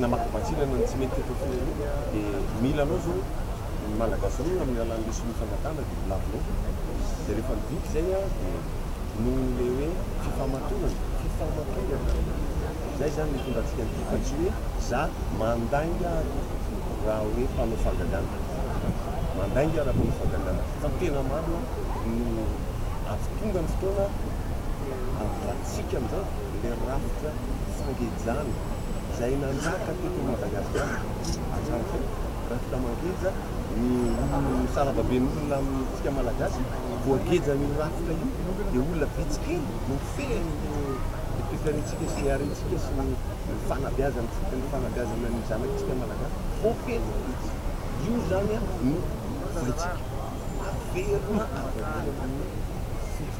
Namaky vantsinana ny tsy mety teto firenena dia mila anao zao ny malagasy roa amin'ny alalan'ny lesona ifangatahana dia volavolao dia rehefa vita izay dia nohon'ilay hoe fifamatorana fifamatorana izay izany no hitondra antsika an'ity fa tsy hoe za mandainga raha hoe mpanao fahagagana mandainga raha mpanao fahagagana fa ny tena marina no avy tonga ny fotoana avy ratsika amin'izao ilay rafitra sangejana izay nanjaka teto Madagasikara hatramin'izay, rafitra mangeja ny saravaben'olona amintsika Malagasy, voagejan'io rafitra io dia olona vitsy kely no fehiny ny toetrantsika sy ny harentsika sy ny fanabeazantsika, ny fanabeazana ny zanatsika Malagasy, voageja vitsy, io izany no volintsika, averina avy amin'ny firenena.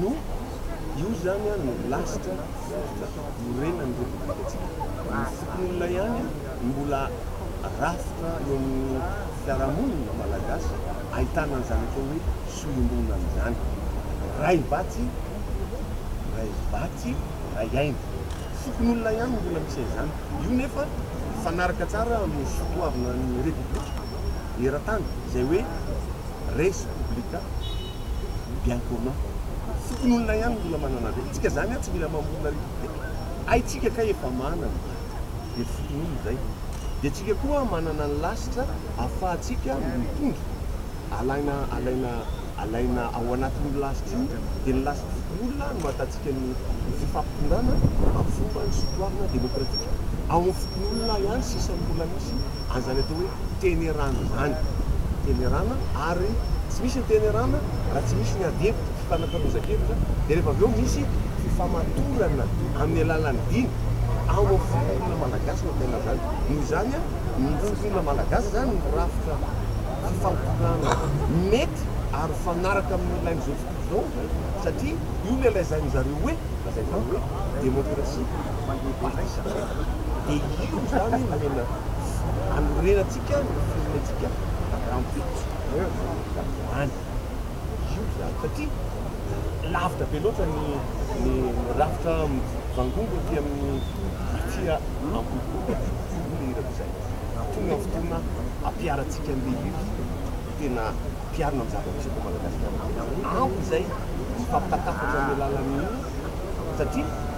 no io zany an no lasitra fototra iorenan'ny repoblikantsika. Ny fokonolona ihany no mbola rafitra eo amin'ny fiarahamonina malagasy ahitana an'izany atao hoe sohimbonan izany. Ray vatsy, ray vatsy, ray aina. Fokonolona ihany no mbola misy an'izany. Io nefa mifanaraka tsara amin'ny soatoavina ny repoblika eran-tany izay hoe res publica. ny bien commun. Fokonolona ihany no mbola manana an'ireny. Tsika izany an, tsy mila mamorona république. Hay tsika kay efa manana. Dia ny fokonolona izay. Dia tsika koa manana ny lasitra ahafahantsika mitondra. Alaina, alaina, alaina ao anatin'io lasitra io. Dia ny lasitr'ny fokonolona no ahatantsika ny fifampitondrana amin'ny fomba ny sotoavina demokratika. Ao amin'ny fokonolona ihany sisa ny mbola misy. an'izany atao hoe tenerana izany, tenerana ary tsy misy ny tenerana raha tsy misy ny ady hevitra, fifanakalozan-kevitra, dia rehefa avy eo misy fifamatorana amin'ny alalan'ny dina, ao amin'ny firenena malagasy no ahitana an'izany, noho izany ny firenena malagasy izany no rafitra fifampitana mety ary mifanaraka amin'ny ilain'izao tontolo izao satria io no ilazan'izareo hoe, izay atao hoe demokrasia, fandriampahaizana. dia io izany no tena anorenantsika ny firenentsika rahampitso ho any. Io izany satria lavitra be loatra ny ny rafitra mivangongo aty amin'ny tatsy Ambohibolo aty no hirako izay. Tonga ny fotoana hampiharantsika an'ilay izy dia tena hampiharina ny zava-misy eto Madagasikara. Ampy izay mifampitantafatra amin'ny alalan'ny hira satria.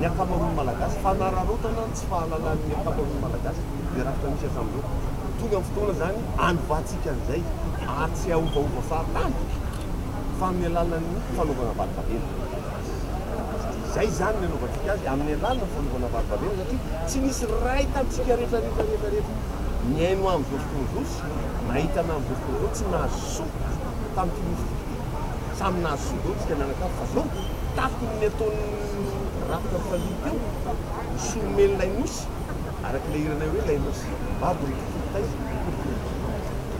ny ankamaroan'ny Malagasy, fanararaotana ny tsy fahalalàn'ny ankamaroan'ny Malagasy izay rafitra misy hatramin'izao. Tonga ny fotoana izany hanovatsika an'izay ary tsy hahaovaova fahatany fa amin'ny alalan'ny fanaovana varibavena. Izay izany ny anaovantsika azy, amin'ny alalan'ny fanaovana varibavena satria tsy misy ray tamintsika rehetrarehetrarehetrarehetra nihaino amin'izao fotoana izao sy nahita an'izao fotoana izao tsy nahazo soa tamin'ity nosy ity. Samy nahazo zo daholo isika mianakavy fa zao tafiky ny ataon'ny rafitra fahiny teo, ny solomen'ilay nosy, araka ilay hiranay hoe ilay nosy, Babo ry kitay, ry kitay.